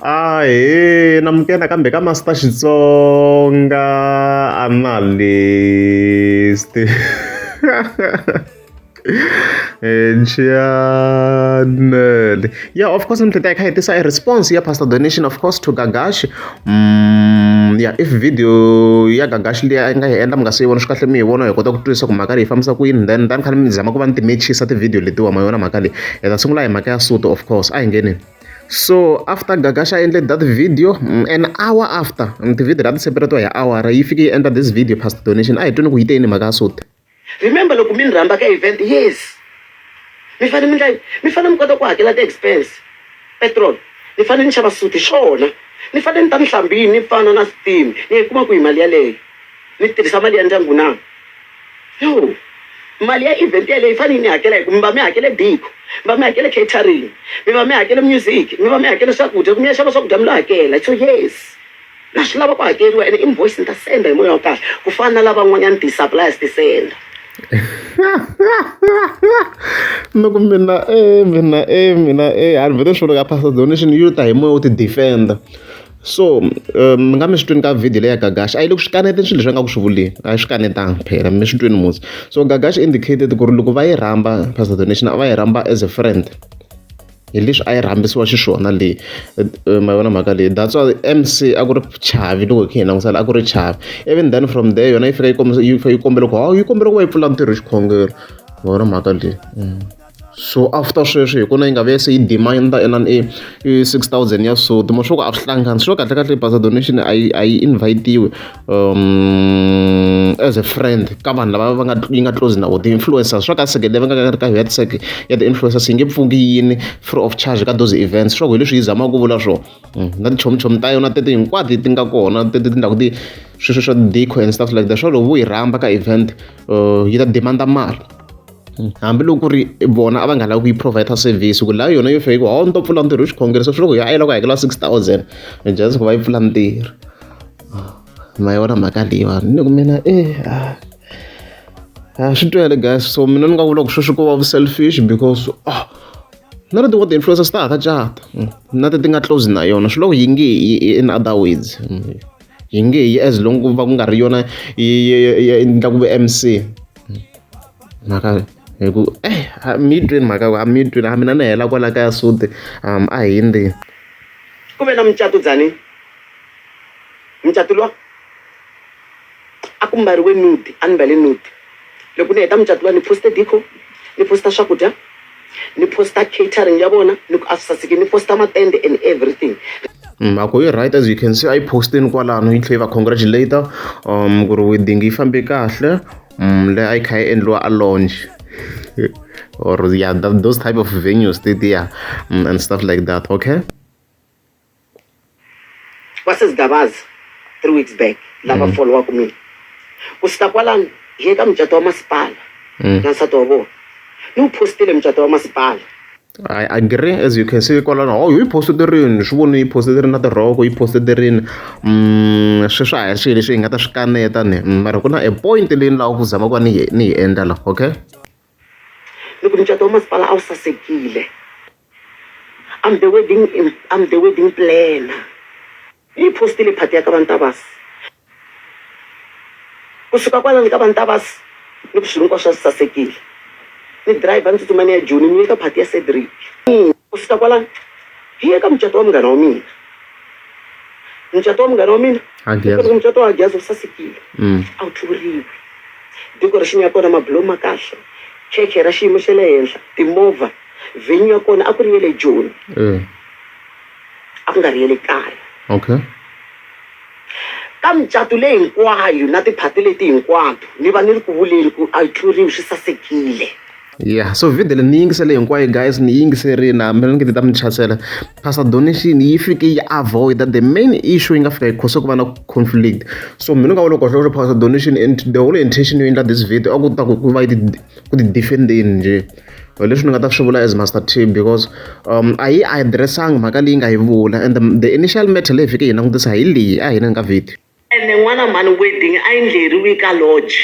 Ahee, namukela kambe ka Master Xitsonga analyst Nxiyane ya of course ni hleketa hi kha hi tisa e response ya Pastor Donation of course to Gagashi ya if video ya gagax liya a yi nga hi endla mi nga si yi vona swi kahle mi yi vona hi kota ku twisisa ku mhaka leyi yi fambisa ku yini then tani khale mi zama ku va ni ti-matches a ti-video letiwa ma yona mhaka leyi hi ta sungula hi mhaka ya suto of course a hi ngenini so after gagash a endle that video mm, an hour after mm, ti-video la ti separatiwa hi awara yi fike yi endla this video past donation a hi twini ku yi te yini mhaka ya suti Remember loko mi ni rhamba ka event yes mi fane mi ndla mi fane mi kota ku hakela ti expense petrol ni fane ni xava suit xona ni fane ni ta ni hlambini ni fana na steam ni yi kuma ku hi mali yaleyo ni tirhisa mali ya ndyangu na yo mali ya event yaleyo yi fane yi ni hakela hi ku mi va mi hakele biko mi va mi hakele catering mi va mi hakele music mi va mi hakele swakudya ku mi ya xava swakudya mi lo hakela so yes Na swi lava ku hakeriwa ene invoice ni ta senda hi moya wa kahle ku fana na lavan'wanyana ti-suppliers ti senda loko mina e mina e mina e a ni vhete swi ka pastor donation yi ta hi moya wo ti defenda so eh, mi nga mi swi twini ka video leya gagashi a yi le ku swi kaneteni swilo leswi a nga ku swi vuleni a yi swi kanetanga phela mi swi twini musi so gagashi indicated ku ri loko va yi rhamba pastor donation a va yi rhamba as a friend hi leswi a yi rhambisiwa xiswona leyi ma vona mhaka leyi that's why M_C a ku ri chavi loko hi kha hi langusa la a ku ri chavi even then from there yona yi fika yi kombisa yi yi kombela ku hawu yi kombela ku va yi pfula ntirho xikhongelo ma vona mhaka leyi mm. so after sweswi hi kuna yi nga ve se yi demand ena i i six thousand ya sod mo swo ku a swi hlangani swo kahle kahle basa donation a yi a yi invite-iwe um as a friend ka vanhu lava va nga yi nga close na vo ti-influencers swa ka seke leyi va nga ri ka head sec ya ti-influencers yi nge pfungi yini free of charge ka those events swa ku hi leswi yi zamaka ku vula swona mm, na tichomichomi ta yona tete hinkwato ti nga kona tete tindhaku ti sweswo swa deco and stuff like that swa loko vo yi rhamba ka event uh, yi ta demanda mali hambiloko ku ri vona a va nga lavi ku yi provide service ku laha yona yo fika hawu ni to pfula ntirho hi xikhongelo se swi loko ya a yi lava ku hakela six thousand just ku va yi pfula ntirho ma yona mhaka leyiwani ni ku mina e a swi twele guys so mina ni nga vula ku sweswi ko va vu-selfish because ah na leti wa ti-influencers ta ha ka cata na ti ti nga close na yona swi loko yi nge yi in other words yi nge yi as long ku va ku nga ri yona yi endla ku ve mc mhaka hi ku eh mi yi tweni mhaka a mi yi tweni a mina ni hela kwala kaya sute a hi ndzeni ku ve na mucato byani mucato luwa a ku mbariwe nudi a ni mbale nudi loko ni heta mucato luwa ni poste dico ni posta swakudya ni posta catering ya vona ni ku a swi saseki ni posta matende and everything mhako yi right as you can see a yi posteni kwalano yi tlhe yi va congratulator um ku ri wedding yi fambe kahle um leyi a yi kha yi endliwa a launch or yeah that, those type of venues they, they are mm, and stuff like that okay vasezidabazi three weeks back lava mm. foliwaka mina ku sita kwalano hi ye ka mucato wa masipala mm. na nsati wa vona ni wu postile mucato wa masipala I agree as you can see kwalano oh yi poste ti rini swi voni yi poste ti ri na tirhoko yi poste ti rini um swi swa ha ri swilo leswi hi nga ta swi kaneta ni mm, mara ku na a point leyi ni lava ku zama ku va ni yi ni yi endla la okay Loko mucato wa masipala a wu sasekile I'm the wedding I'm the wedding planner ni yi postile phati ya ka va Ntavasi kusuka kwalani ka va Ntavasi ni ku swilo hinkwaswo a swi sasekile ni driver ni tsutsuma ni ya Joni ni ye ka phati ya Cedric kusuka kwalani hi ye ka mucato wa munghana wa mina. mucato wa munghana wa mina loko mucato wa gyazi wu sasekile mm. a wu tluriwi decoration ya kona mabulo ma kahle church ra xiyimo xa le henhla timovha venue ya kona a ku ri ye le joni eh. a ku nga ri ye le kaya okay ka micato leyi hinkwayo na tiphati leti hinkwato ni va ni ri ku vuleni ku a yi tluriwi swi sasekile ya so video leyi ni yi yingisele hinkwayo guys ni yingiserile hambi ni nge ti ta mi chasela pastor donation yi fike yi avoid that the main issue yi nga fika yi khose ku va na conflict so mina nga vona ku kahle pastor donation and the whole intention yo endla this video a ku ta ku va yi ku ti defendeni nje leswi ni nga ta swi vula as master team because um a yi addressanga mhaka leyi nga yi vula and the, the initial matter leyi fike yi langutisa hi leyi a hina nga video Ene n'wana mhani wedding a yi ndleriwi ka lodge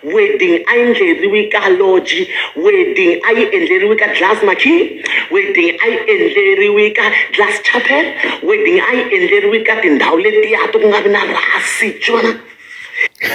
wedding a yi ndleriwi ka lodge wedding a yi endleriwi ka glass marquee wedding a yi endleriwi ka glass chapel wedding a yi endleriwi ka tindhawu letiya ti ku nga vi na rhasi xivona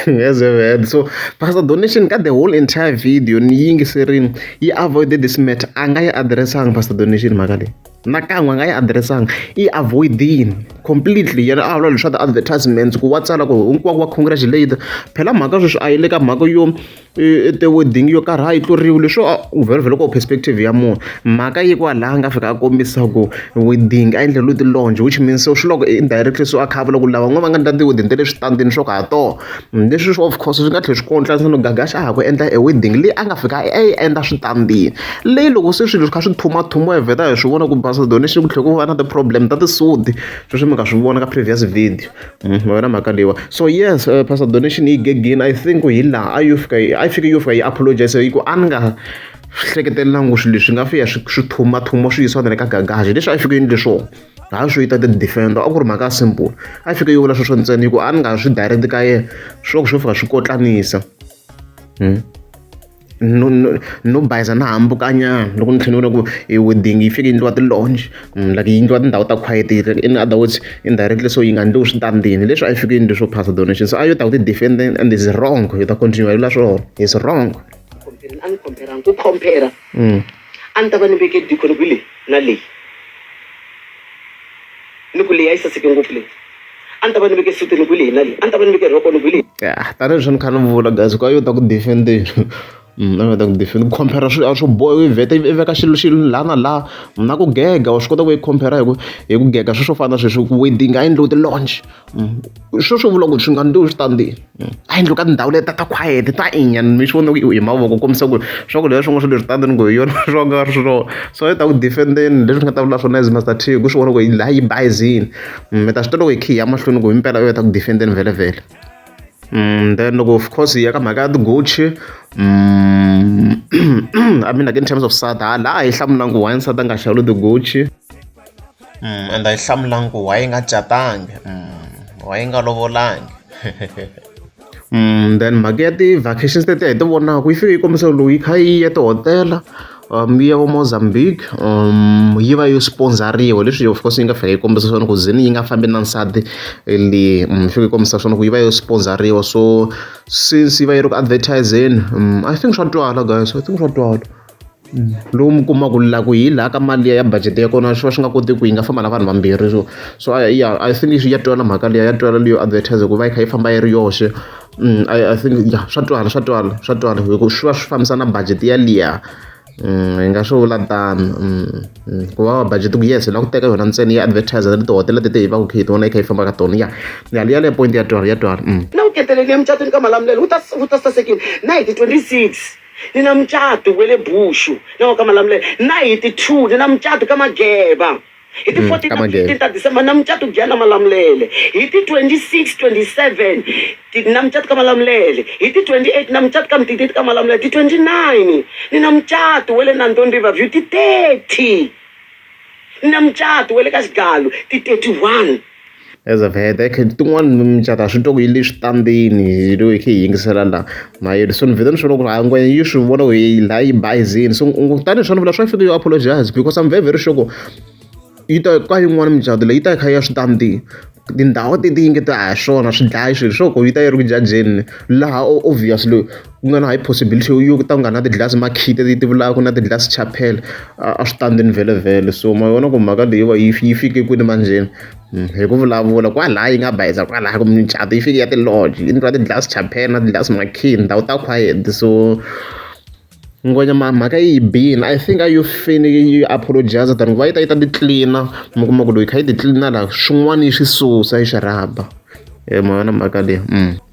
yes man so pastor donation ka the whole entire video ni yingiserini yi avoide this matter a nga yi addressanga pastor donation mhaka leyi nakan'we a nga yi adiressanga i yi avoid-ini completely yena a vula leswa ti-advertisements ku wa tsala ku hinkwako wa congratulate phela mhaka sweswi a yi le ka mhaka yo e, e, ti-wedding yo karhi a yi tluriwi leswo vhelovhelo ko perspective ya munhu mhaka yi kwa laha nga fika a kombisa ku wedding a endleriwe ti-longe which means so swi loko indirectly so a kha a vula ku lava n'we va nga ndla ti-wedding ta le switandini swo ka ha tona Leswi swi of course swi nga tlhela swi ku endla leswaku Gagash a ha ku endla e wedding leyi a nga fika a yi endla switandini. Leyi loko se swilo swi kha swi tlhumatlhumiwa hi vheta hi swi vona ku basa donation ku tlhela ku va na ti-problem ta tisudi, sweswi mi nga swi vona ka previous video ma vona mhaka leyiwani. So yes pastor donation yi gegini I think hi laha a yo fika a yi fike yo fika yi apologize hi ku a ni nga hleketelangi ku swilo leswi nga fika swi swi tlhumatlhumiwa swi yisiwa na le ka Gagash leswi a yi fike yi endle swona. ha swi yita ti-defender a ku ri mhaka ya simple a fike yi vula sweswo ntsena hi ku a ni nga swi direct ka yena swo swo fika swi kotlanisa hmm? no no no bayiza na hambukanyana loko ni tlhela ni vona ku e wedding yi fike yindliwa ti-longe hmm, like yi ndliwa tindhawu ta quiet in other words indirectly so yi nga ndliwi switandini leswi a yi fike yindli swo phasa donation so a yo ta ku ti-defend and is wrong yi ta continue yi vula swona is wrong a ni compare ku compare hmm. A ni ta va ni veke dikoni kwihi leyi na leyi, ni ku leyi a yi saseke ngopfu leyi, a ni ta va ni veke sutini kwihi leyi na leyi, a ni ta va ni veke rhokoni kwihi leyi. Ya tanihi leswi ni kha ni vula guys ka yo ta ku defend-eni mm, a yo ta ku defend ku compare swilo a swo boha i vheta i veka xilo xilo laha na laha na ku gega wa swi kota ku i compare hi ku hi ku gega sweswo fana na sweswi wedding a yi endliwe ti-launch. swo swi vula ku swi nga ndzi swi ta ndzi a yendlo ka tindhawu leti ta khwayere ta inya mi swi vona ku hi mavoko ku kombisa ku ri swakudya leswi n'wi swi leswi tani ni ku hi yona swo nga ri swona so a yi ta ku defend-eni leswi nga ta vula swona as master t ku swi vona ku yi laha yi bayizini mi ta swi tiva loko hi khe hi ya mahlweni ku hi mpela u ya ta ku defend-eni vhele vhele Mm, then loko of course hi ya ka mhaka ya ti-gucci mm, i mean like in terms of sada laha hi hlamulanga ku why nsati a nga xavuli ti-gucci endla yi hlamula ku why yi nga catangi why yi nga lovolangi then mhaka ya ti-vacations tetiya hi ti vonaka yi fike yi kombisa lowu yi kha yi ya tihotela um ya vo mozambique um yi va yo sponzariwa leswi of course yi nga fika yi kombisa swona ku zini yi nga fambi na nsati leyi um fike yi kombisa swona ku yi va yo sponzariwa so since yi va yi ri ku advertise-eni um i think swa twala guys i think swa twala. lowu mi kumaka la ku hi laha ka mali liya ya budget ya kona swi va swi nga kotiki ku yi nga famba na vanhu vambirhi so so a ya I think ya twala mhaka liya ya twala leyo advertiser ku va yi kha yi famba yi ri yoxe I think ya swa twala swa twala swa twala hi ku swi va swi fambisa na budget ya liya hi nga swi vula tano ku va va budget ku yes hi lava ku teka yona ntsena ya advertiser ni tihotela tete hi va ku khe hi tona yi kha yi famba ka tona ya ya liya leya point ya twala ya twala na ku keteleliya mucatwini ka malamulelo wu ta wu ta sasekile na hi ti twenty six Ni na mucato wa le Bushu na wa ka Malamulele. Na hi ti two ni na mucato ka Mageba. Hi ti fourteen na ti fifteen ta December ni na mucato Giyani na Malamulele. Hi ti twenty six, twenty seven ni na mucato ka Malamulele. Hi ti twenty eight ni na mucato ka Mtiti ka Malamulele. Ti twenty nine ni na mucato wa le Nandoni River View. Ti thirty ni na mucato wa le ka Xigalu. Ti thirty one. As of heta hi kha tin'wani micato a swi twa ku yi le switandini hi lo hi khe hi yingisela la ma yele so ni vhele ni swi vona ku ri ha ngwehe yi swi vona ku yi la yi bayizini so kutani hi swa ni vula swa fika yo apologize because I'm very very sure ku yi ta ka yin'wani micato leyi yi ta yi kha yi ya switandini tindhawu ti ti yingetela ha swona swi dlaya xilo swa ku yi ta yi ri ku jajeni laha obvious loyi. ku nga na high possibility yo yo ku ta ku nga na ti-glass makhiti leti ti vulaka na ti-glass chapel a a swi tani vhelemvhele so ma vona ku mhaka leyi va yi yi fike kwini manjheni hmm, hi ku vulavula kwalaya yi nga bayiza kwalaya kumbe micato yi fike ya ti-lodge yi ndliwa ti-glass chapel na ti-glass makhiti ndhawu ta quiet so ngwenya mhaka yi bini i think a yo faneke yi apologize than ku va yi ta yi ta titlina mi kuma ku loyi kha yi titlina laha swin'wana yi swi susa yi swi rhaba hi ma yona mhaka leyi mm.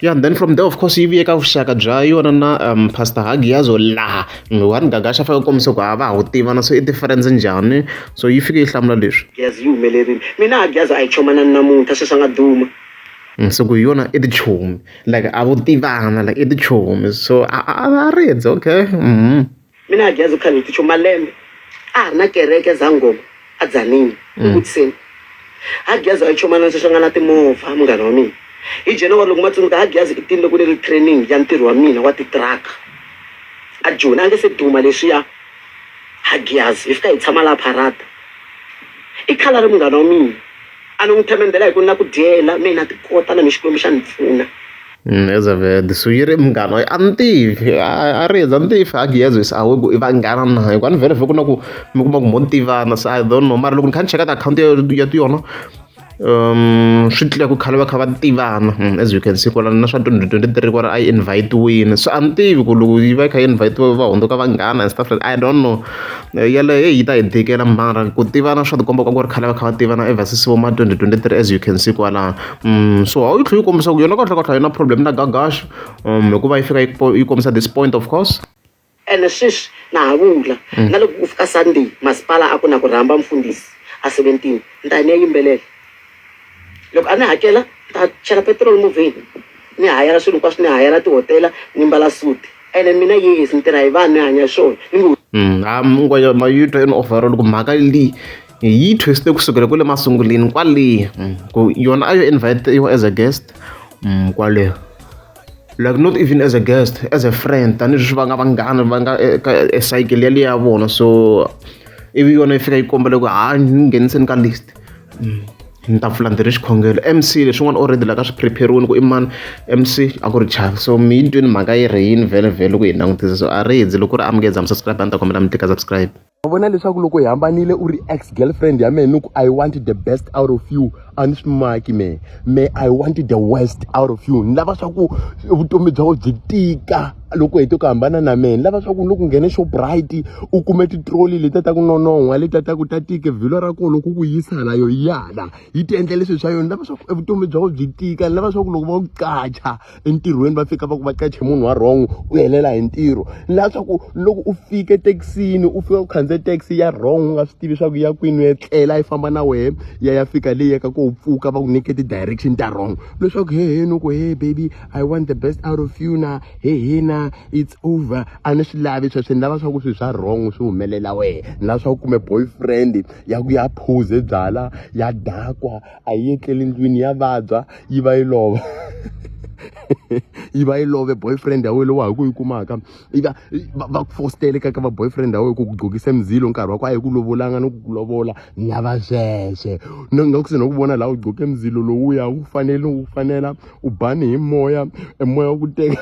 ya yeah, then from there of course yi vuye ka vuxaka bya yona na um, pastor hagiyazo laha nghiwani gagasha fanele kombisa ku a va ha wu tivana so i difference njhani so yi fike yi hlamula leswi giyazi yi humelerile mina hagiyazo a yi chomana namuntlha sweswi a nga duma mm, so ku yona i tichomi like a vo tivana like i tichomi so a a ridze okay mm -hmm. Mina a Geza u kha ni ticho malembe a ha ri na kereke Zangoma a Tzaneen ni vutiseni ha Geza a yi chomana ni seswa nga na timovha munghana wa mina hi January loko ma tsundzuka ha Geza i tinile ku ni ri training ya ntirho wa mina wa titruck a Joni a nge se duma leswiya ha Geza hi fika hi tshama laha Pharada i khala ri munghana wa mina a ni n'wi themendhela hi ku ni na ku dyela mina ti kota na mi Xikwembu xa ni pfuna. Elizabeth swi ri munghana a ni tivi a ri yeza a ni tivi a gezi se a wu ku i vanghana na hi ku a ni vhele ni vhe ku na ku mi kuma ku mo ni tivana se I don't know mara loko ni kha ni cheka ka akhawunti ya ti yona swi tlula ku khale va kha va tivana as you can see kwalano na swa twenty twenty three kwala a yi invite-wini se a ni tivi ku loko yi va yi kha yi invite-we va hundzuka vanghana and stuff like that I don't know yeleyo heyi yi ta hi tikela mara ku tivana swa ti komba ku a ku ri khale va kha va tivana ever since vo ma twenty twenty three as you can see kwalano. so a yi tlhela yi kombisa ku yona kahlekahle a yi na problem na gagash um hikuva yi fika yi yi kombisa this point of course ene sweswi na ha vula mm. na loko ku fika sunday masipala a ku na ku rhamba mfundisi a seventeen ni ta ni ya yimbelela loko a ni hakela ni ta chela petrol movheni ni hayela swilo hinkwaswo ni hayela tihotela ni mbala suti ene mina yes ni tirha hi vanhu ni hanya swona ni ngo mm, a mungwa ma yi twa yini overall ku mhaka leyi yi twiste kusukela kule masunguleni kwale mm, ku yona a yo invitiwa as a guest mm, kwale like not even as a guest as a friend tanihileswi va nga vanghana va nga eh, ka eh, cycle yaleyo ya vona so ivi yona yi fika yi kombela ku ha ni ngheniseni ka list mm, ni ta pfula ndzi ri xikhongelo mc leswin'wana already la ka swi prepariwini ku i mani mc a ku ri chaka so mi yi twini mhaka yi ri yini vhele vhele ku yi langutisa so a ri hi ndzi loko ku ri amukeza mi subscribe a ni ta kombela mi tika subscribe wa vona leswaku loko hi hambanile u ri ex girlfriend ya mehe ni ku i want the best out of you a ni swi maki mehe me i want the west out of you ni lava swa ku vutomi bya wena byi tika loko hete ku hambana na mehe ni lava swa ku loko nghene shoprite u kume titroli leti ta ku nonon'hwa leti ta ku ta tike vhilwa ra kona loko ku yisa hala yo yala yi ti endla leswi swa yona ni lava swa ku evutomi bya wena byi tika ni lava swa ku loko va ku qacha entirhweni va fika va ku va qache munhu wa wrong u helela hi ntirho laha swa ku loko u fika ethekisini u fika u khandziya taxi ya wrong u nga swi tivi swa ku ya kwini u etlela yi famba na wehe ya ya fika leyi yaka ko pfuka va ku nyike ti-direction ta wrong leswaku he he ni ku he baby i want the best out of you na he he na it's over a ni swi lavi sweswo ni lava swa ku swilo swa wrong swi humelela wehe ni lava swa ku kume boyfriend ya ku ya phuze byala ya dakwa a yi etleli ndlwini ya vabya yi va yi lova yi va yi love boyfriend ya wena lowu ha ku yi kumaka yi va va ku fostele ka ka va boyfriend ya wena ku ku gqokisa mizilo nkarhi wa ku a yi ku lovolanga ni ku ku lovola ni lava sweswe ni nga ku se no ku vona laha u gqoke mizilo lowuya wu fanele wu fanela u bani hi moya e moya wa ku teka